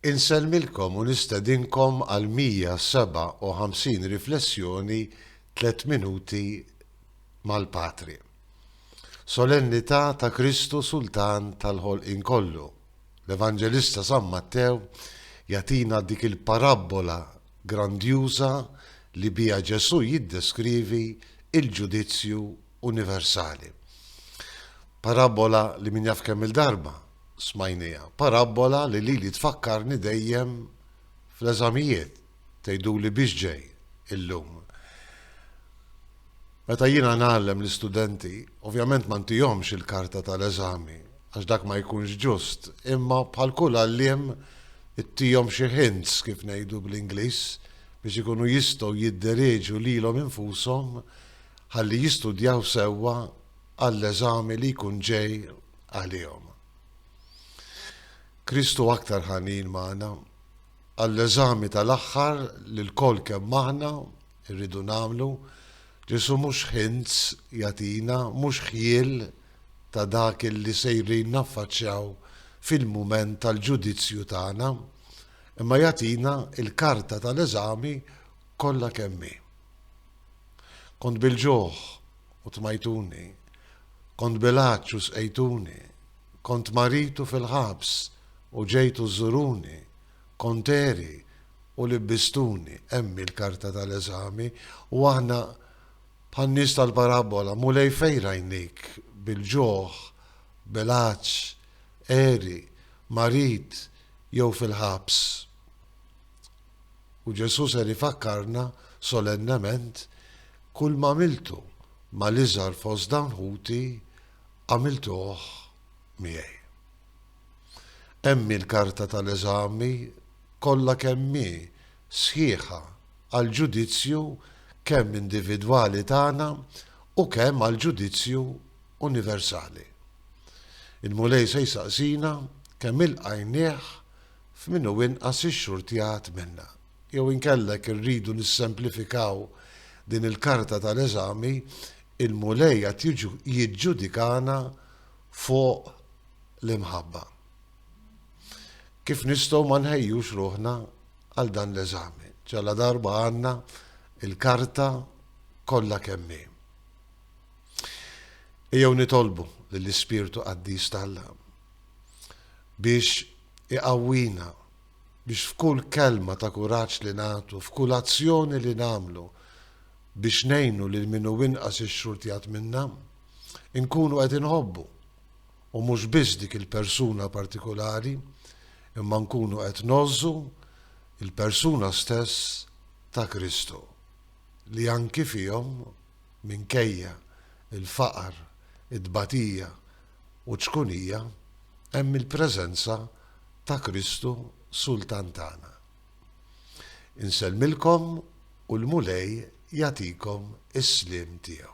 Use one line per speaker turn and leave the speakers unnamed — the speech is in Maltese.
Insellmilkom u nistedinkom għal 157 riflessjoni Tliet Minuti mal-Patri. Solennità ta' Kristu Sultan tal-ħolqien kollu. L-Evanġelista San Mattew jagħtina dik il-parabbola grandjuża li biha Ġesù jiddeskrivi l-ġudizzju universali. Parabbola li min jaf kemm il-darba smajnija, parabbola li lili tfakkarni dejjem fl-eżamijiet tgħiduli biex ġej illum. Meta jiena ngħallem l-istudenti, ovvjament ma ntihomx il-karta tal-eżami, għax dak ma jkunx ġust, imma bħal kull għalliem ittihom xi hints kif ngħidu bl-Ingliż biex ikunu jistgħu jiddereġu lilhom infushom ħalli jistudjaw sewwa għall-eżami li jkun ġej għalihom. Kristu aktar ħanin magħna għall-eżami tal-aħħar li lkoll kemm aħna rridu nagħmlu Ġesu mhux ħinz jatina, mhux ħjiel ta' dak li sejrin naffaċċjaw fil-mument tal-ġudizzju tagħna, imma jatina il-karta tal-eżami kollha kemmi. Kont bil-ġuħ u tmajtuni, kont bil-għatx u sqejtuni, kont marid u fil-ħabs u ġejtu żżuruni, kont għeri u libbistuni. Hemm hi l-karta tal-eżami u aħna bħan-nies tal-parabbola, Mulej fejn rajnik bil-ġuħ, bil-għatx, għeri, marid jew fil-ħabs? U Ġesù ser ifakkarna solennement, Kull m'għamiltu mal-iżgħar fost dawn ħuti, għamiltuh miegħi. Hemm hi l-karta tal-eżami kollha kemm hi sħiħa għall-ġudizzju kemm individwali tagħna u kemm għall-ġudizzju universali. Il-Mulej se jsaqsina kemm ilqajnieh f'min hu inqas ixxurtjat minnha. Jew inkella jekk irridu nissemplifikaw din il-karta tal-eżami, il-Mulej qed jiġġudikana fuq l-imħabba. Kif nistgħu ma nħejjux ruħna għal dan l-eżami, ġaladarba għandna l-karta kollha kemm hi? Ejjew nitolbu lill-Ispirtu Qaddis t'Alla biex Iqawwina biex f'kull kelma ta' kuraġġ li nagħtu, f'kull azzjoni li nagħmlu biex ngħinu lil min hu inqas ixxurtjat minna, inkunu qed inħobbu, u mhux biss dik il-persuna partikulari, imma nkunu qed ngħożżu l-persuna stess ta' Kristu, li anki fihom, minkejja l-faqar, it-tbatija, u ċkunija hemm il-preżenza ta' Kristu Sultan tagħna. Insellmilkom u l-Mulej jagħtikom is-sliem tiegħu.